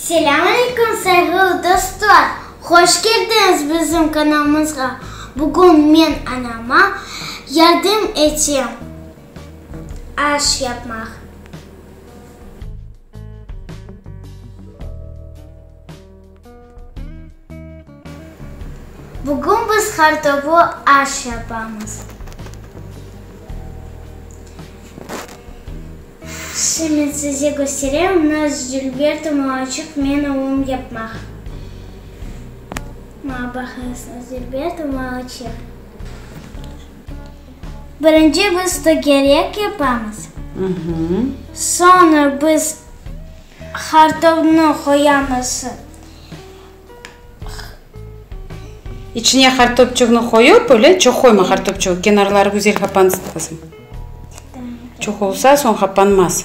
Selâm aleyküm sayğılı dostlar! Hoş keldiñiz bizim kanalımızğa! Bugün men anama yardım etem aş yapmaq. Bugün biz qartobu aş yapamız. Şimdi size kösterem naz Jülberti Muaçıq men oğlum yapmaq. Maña baqıñız, naz Jülberti Muaçıq. Birinci biz tögerek yapamız. Soñra biz hartovnı qoyamız. İçine hartopçığını qoyıp, öyle? Çoq qoyma hartopçığı, kenarları güzel qapansın, qızım. Çoq olsa, soñ qapanmaz.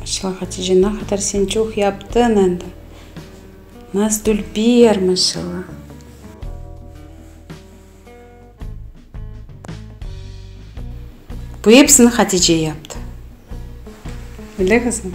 Maşallah, Hatice, ne qadar sen çoq yaptın endi! Nazdülber, maşallah! Bu epsini Hatice yaptı. Öyle qızım?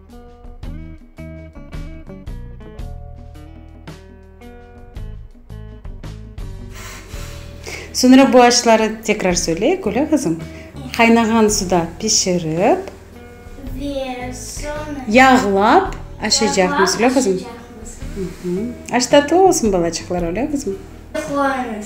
Soñra bu aşları tekrar söyle, Gülâ qızım. Qaynağan suda pişirip. Ve soñra. Yağlap aşacaqmız, öyle qızım? Yağlap aşacaqmız. Aş tatlı olsun, balaçıqlar, öyle qızım? Quvaniş.